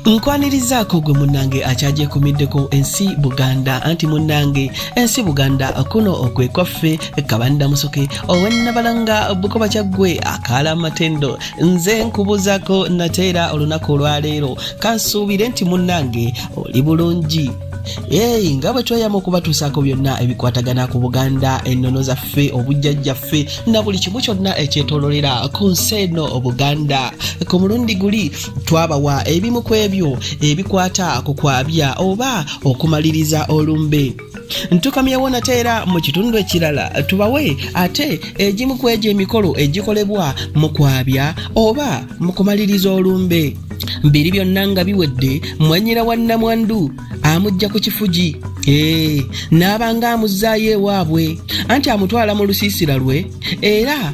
nkwanirizaako gwe munnange akyagyekomeddeko ensi buganda anti munnange ensi buganda kuno okwe kwaffe kabanda musoke owennabalanga bukoba kyaggwe akaala amatendo nze nkubuzaako nateera olunaku olwaleero kansuubire nti munnange oli bulungi Hey, nga bwe tweyama okubatuusaako byonna ebikwatagana ku buganda ennono zaffe obujjajjaffe na buli kimu kyonna ekyetololera ku nsi eno obuganda ku mulundi guli twabawa ebimu ku ebyo ebikwata ku kwabya oba okumaliriza olumbe ntukamyewo nate era mu kitundu ekirala tubawe ate egimu ku egyo emikolo egikolebwa mu kwabya oba mu kumaliriza olumbe biri byonna nga biwedde mwanyira wa nnamwandu amujja ku kifugi ee n'abanga amuzzaayo ewaabwe anti amutwala mu lusiisira lwe era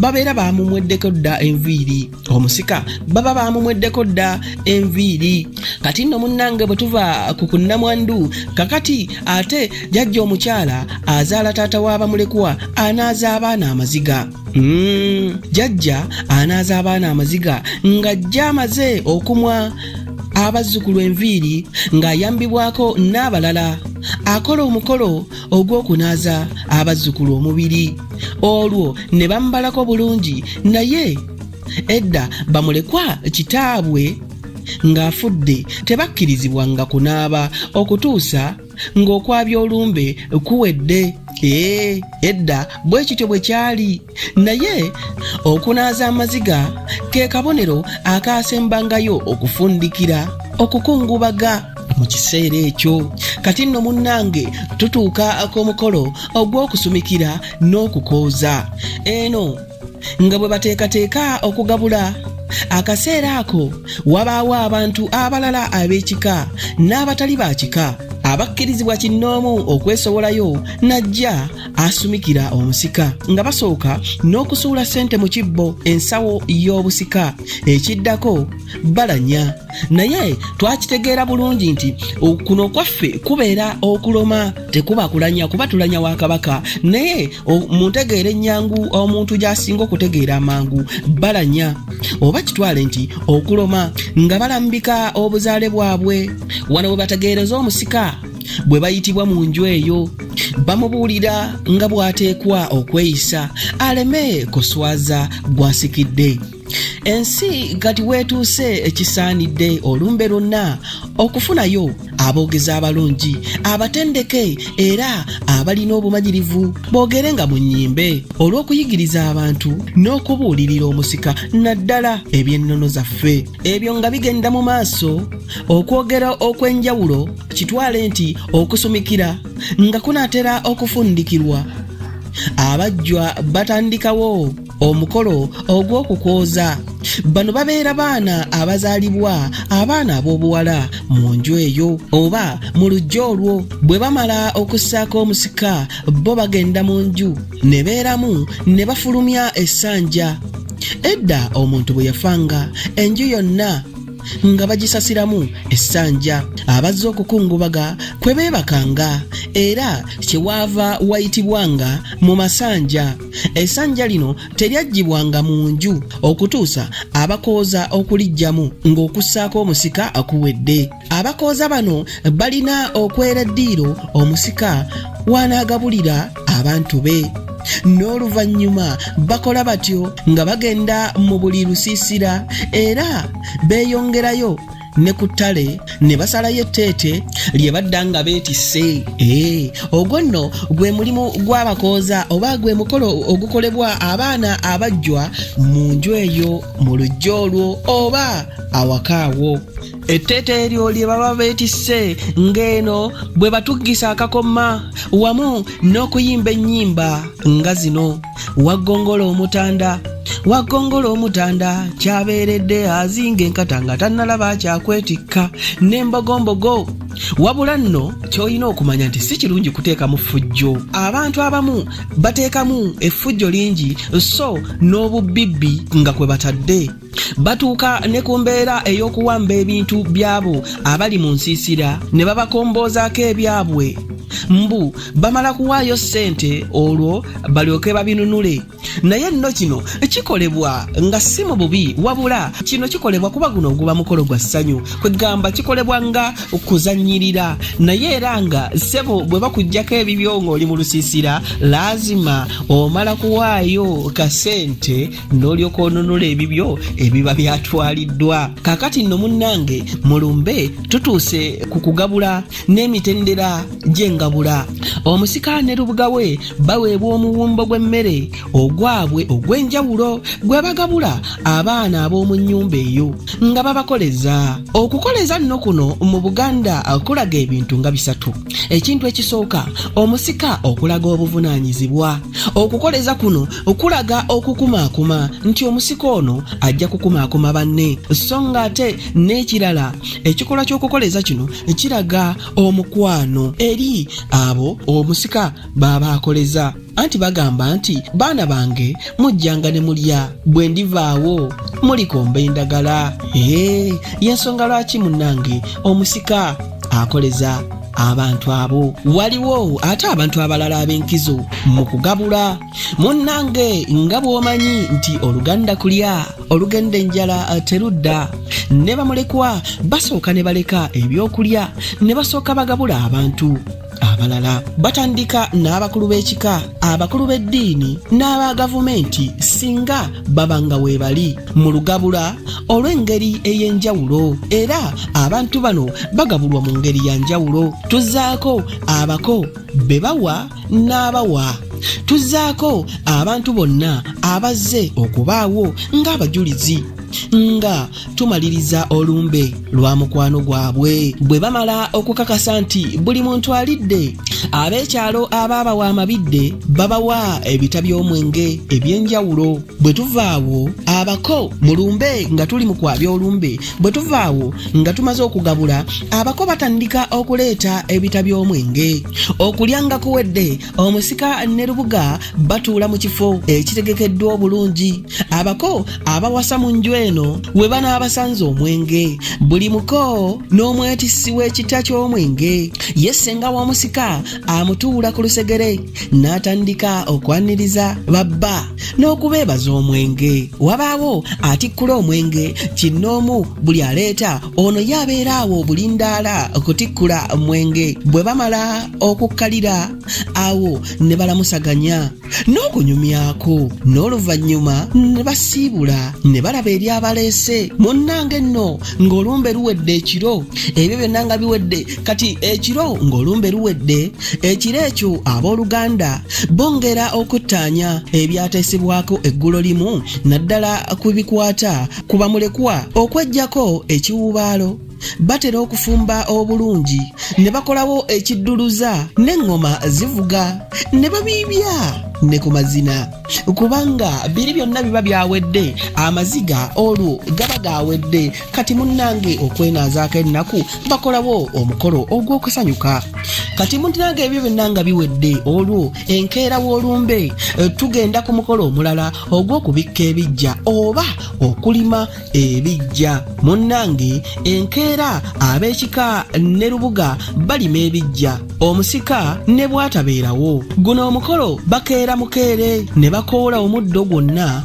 babeera baamumweddeko dda enviiri omusika baba baamumweddeko dda enviiri kati nno munnange bwe tuva ku kunnamwandu kakati ate jajja omukyala azaala taata w'abamulekwa anaaza abaana amaziga hmm, jajja anaaza abaana amaziga ng'ajja amaze okumwa abazzukulu enviiri ng'ayambibwako n'abalala akola omukolo ogw'okunaaza abazzukulu omubiri olwo ne bamubalako bulungi naye edda bamulekwa kitaabwe ng'afudde tebakkirizibwanga kunaaba okutuusa ng'okwabya olumbe kuwedde ee edda bwe kityo bwe kyali naye okunaaza amaziga ke kabonero akaasembangayo okufundikira okukungubaga mu kiseera ekyo kati nno munnange tutuuka ku mukolo ogw'okusumikira n'okukooza eno nga bwe bateekateeka okugabula akaseera ako wabaawo abantu abalala ab'ekika n'abatali ba kika abakkirizibwa kinnoomu okwesowolayo najja asumikira omusika nga basooka n'okusuula ssente mu kibbo ensawo y'obusika ekiddako balanya naye twakitegeera bulungi nti kuno kwaffe kubeera okuloma tekuba kulanya kuba tulanya wa kabaka naye mu ntegeera ennyangu omuntu gy'asinga okutegeera amangu balanya oba kitwale nti okuloma nga balambika obuzaale bwabwe wano we bategeereza omusika bwe bayitibwa mu nju eyo bamubuulira nga bw'ateekwa okweyisa aleme kuswaza gwasikidde ensi kati weetuuse ekisaanidde olumbe lwonna okufunayo aboogezi abalungi abatendeke era abalina obumanyirivu boogere nga mu nnyimbe olw'okuyigiriza abantu n'okubuulirira omusika naddala eby'ennono zaffe ebyo nga bigenda mu maaso okwogera okw'enjawulo kitwale nti okusumikira nga kunaatera okufundikirwa abajjwa batandikawo omukolo ogw'okukwoza bano babeera baana abazaalibwa abaana ab'obuwala mu nju eyo oba mu lujja olwo bwe bamala okussaako omusika bo bagenda mu nju ne beeramu ne bafulumya essanja edda omuntu bwe yafanga enju yonna nga bagisasiramu essanja abazze okukungubaga kwe beebakanga era kyewaava wayitibwanga mu masanja essanja lino teryaggibwanga mu nju okutuusa abakooza okuliggyamu ng'okussaako omusika akuwedde abakooza bano balina okwera eddiiro omusika wanaagabulira abantu be n'oluvannyuma bakola batyo nga bagenda mu buli lusiisira era beeyongerayo ne ku ttale ne basalayo etteete lye badda nga beetisse ee ogwo nno gwe mulimu gw'abakooza oba gwe mukolo ogukolebwa abaana abajjwa mu nju eyo mu lujja olwo oba awakaawo etteeta eryo lye baba beetisse ng'eno bwe batuggisa akakoma wamu n'okuyimba ennyimba nga zino waggongola omutanda waggongola omutanda kyabeeredde azinga enkata nga tannalaba kyakwetikka n'embogombogo wabula nno ky'olina okumanya nti si kirungi kuteekamu ffujjo abantu abamu bateekamu effujjo lingi so n'obubbibbi nga kwe batadde batuuka ne ku mbeera ey'okuwamba ebintu by'abo abali mu nsiisira ne babakomboozaako ebyabwe mbu bamala kuwaayo ssente olwo balyoke babinunule naye nno kino kikolebwa nga si mu bubi wabula kino kikolebwa kuba guno oguba mukolo gwa ssanyu kwegamba kikolebwa nga kuzannyirira naye era nga ssebo bwe bakuggyako ebibyo ng'oli mu lusiisira laazima omala kuwaayo kasente n'olyoka onunula ebibyo ebiba byatwaliddwa kakati nno munnange mulumbe tutuuse ku kugabula n'emitendera gy'engabula omusika ne lubuga we baweebwa omuwumbo gw'emmere ogwabwe ogw'enjawulo gwe bagabula abaana ab'omu nnyumba eyo nga babakoleza okukoleza nno kuno mu buganda kulaga ebintu nga bisatu ekintu ekisooka omusika okulaga obuvunaanyizibwa okukoleza kuno okulaga okukumaakuma nti omusika ono ajja kukumaakuma banne so nga ate n'ekirala ekikolwa ky'okukoleza kino kiraga omukwano eri abo omusika baaba akoleza anti bagamba nti baana bange mujjanga ne mulya bwe ndivaawo mulikomba endagala ee yensonga lwaki munnange omusika akoleza abantu abo waliwo ate abantu abalala ab'enkizo mu kugabula munnange nga bw'omanyi nti oluganda kulya olugenda enjala eh, terudda ne bamulekwa basooka ne baleka ebyokulya ne basooka bagabula abantu abalala batandika n'abakulu b'ekika abakulu b'eddiini n'aba gavumenti singa baba nga weebali mu lugabula olw'engeri ey'enjawulo era abantu bano bagabulwa mu ngeri ya njawulo tuzzaako abako be bawa n'abawa tuzzaako abantu bonna abazze okubaawo ng'abajulizi nga tumaliriza olumbe lwa mukwano gwabwe bwe bamala okukakasa nti buli muntu alidde ab'ekyalo abaabawa amabidde babawa ebita by'omwenge eby'enjawulo bwe tuvaawo abako mu lumbe nga tuli mu kwabya olumbe bwe tuva awo nga tumaze okugabula abako batandika okuleeta ebita by'omwenge okulya nga kuwedde omusika ne lubuga batuula mu kifo ekitegekeddwa obulungi abako abawasa mu nju eno we banaabasanze omwenge buli muko n'omwetissi w'ekita ky'omwenge ye ssenga w'omusika amutuula ku lusegere n'atandika okwaniriza babba n'okubeebaza omwenge wabaawo atikkula omwenge kinnoomu buli aleeta ono ye abeera awo obulindaala okutikkula omwenge bwe bamala okukkalira awo ne balamusaganya n'okunyumyako n'oluvannyuma ne basiibula ne balaba eri abaleese munnange nno ng'olumbe luwedde ekiro ebyo byonna nga biwedde kati ekiro ng'olumbe luwedde ekiro ekyo abooluganda bongera okuttaanya ebyateesebwako eggulo limu naddala ku bikwata ku bamulekwa okweggyako ekiwuubaalo batera okufumba obulungi ne bakolawo ekidduluza n'eŋŋoma zivuga ne babiibya ne ku mazina kubanga biri byonna biba byawedde amaziga olwo gaba gawedde kati munnange okwenaazaako ennaku bakolawo omukolo ogw'okusanyuka kati munnange ebyo byonna nga biwedde olwo enkeera w'olumbe tugenda ku mukolo omulala ogw'okubikka ebijja oba okulima ebijja munnange enkeera ab'ekika ne lubuga balima ebijja omusika ne bwatabeerawo guno omukolo bakeera mukeere ne bakoola omuddo gwonna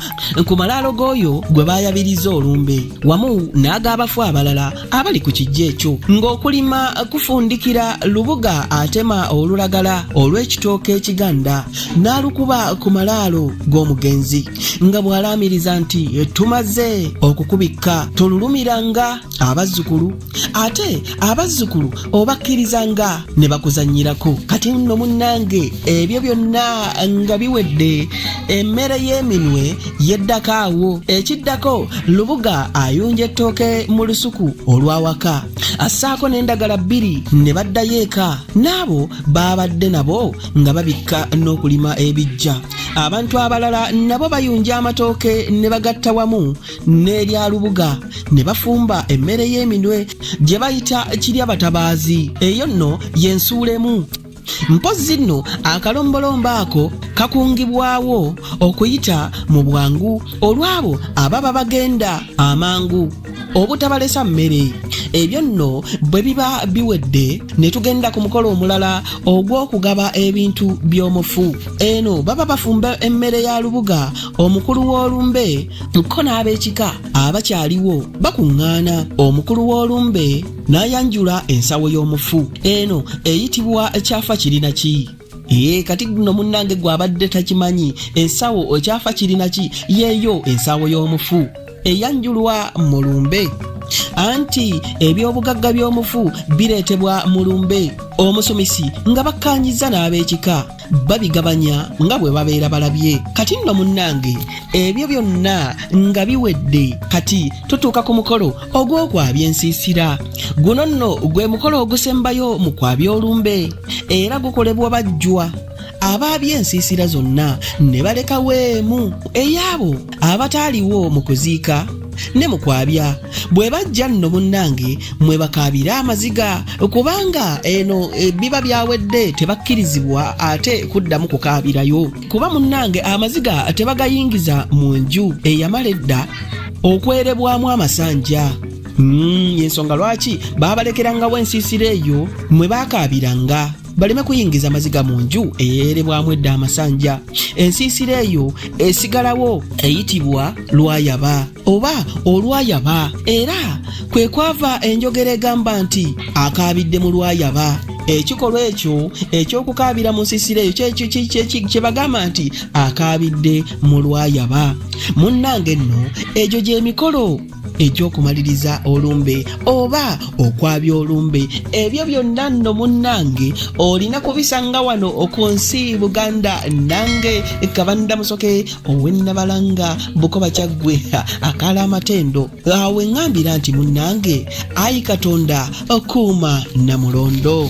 ku malaalo g'oyo gwe baayabiriza olumbe wamu n'ag'abafu abalala abali ku kijja ekyo ng'okulima kufundikira lubuga atema olulagala olw'ekitooke ekiganda n'alukuba ku malaalo g'omugenzi nga bw'alaamiriza nti tumaze okukubikka tululumiranga abazzukulu ate abazzukulu obakkirizanga ne bakuzannyirako kati nno munnange ebyo byonna nga biwedde emmere y'eminwe yeddako awo ekiddako lubuga ayunja ettooke mu lusuku olw'awaka assaako n'endagala bbiri ne baddayo eka n'abo baabadde nabo nga babikka n'okulima ebijja abantu abalala nabo bayunja amatooke ne bagatta wamu n'erya lubuga ne bafumba emmere y'eminwe gye bayita kirya batabaazi eyo nno y'ensuulemu mpozzi nno akalombolombo ako kakungibwawo okuyita mu bwangu olw'abo ababa bagenda amangu obutabalesa mmere ebyo nno bwe biba biwedde ne tugenda ku mukolo omulala ogw'okugaba ebintu by'omufu eno baba bafumba emmere ya lubuga omukulu w'olumbe ko n'ab'ekika abakyaliwo bakuŋŋaana omukulu w'olumbe n'ayanjula ensawo y'omufu eno eyitibwa kyafa kirina ki Yee kati guno munnange gw'abadde takimanyi ensawo okyafa kirina ki yeeyo ensawo y'omufu eyanjulwa mu lumbe anti ebyobugagga by'omufu bireetebwa mu lumbe omusumisi nga bakkaanyizza n'ab'ekika babigabanya nga bwe babeera balabye kati nno munnange ebyo byonna nga biwedde kati tutuuka ku mukolo ogw'okwabya ensiisira guno nno gwe mukolo ogusembayo mu kwabya olumbe era gukolebwa bajjwa abaabye ensiisira zonna ne balekawo emu ey'abo abataaliwo mu kuziika ne mu kwabya bwe bajja nno munnange mwe bakaabira amaziga kubanga eno e, biba byawedde tebakkirizibwa ate kuddamu kukaabirayo kuba munnange amaziga tebagayingiza mu nju eyamala edda okwerebwamu amasanja Mm, yensonga lwaki baabalekerangawo ensiisira eyo mwe baakaabiranga baleme kuyingiza maziga mu nju eyeerebwamu edda amasanja ensiisira eyo esigalawo eyitibwa lwayaba oba olwayaba era kwe kwava enjogera egamba nti akaabidde mu lwayaba ekikolwa ekyo ekyokukaabira mu nsisira eyo kye bagamba nti akaabidde mu lwayaba munnange nno egyo gy'emikolo eky'okumaliriza olumbe oba okwabya olumbe ebyo byonna nno munnange olina kubisanga wano ku nsi buganda nange kabanda musoke owennabalanga bukoba kyaggwe akaala amatendo awe ŋambira nti munnange ayi katonda okuuma namulondo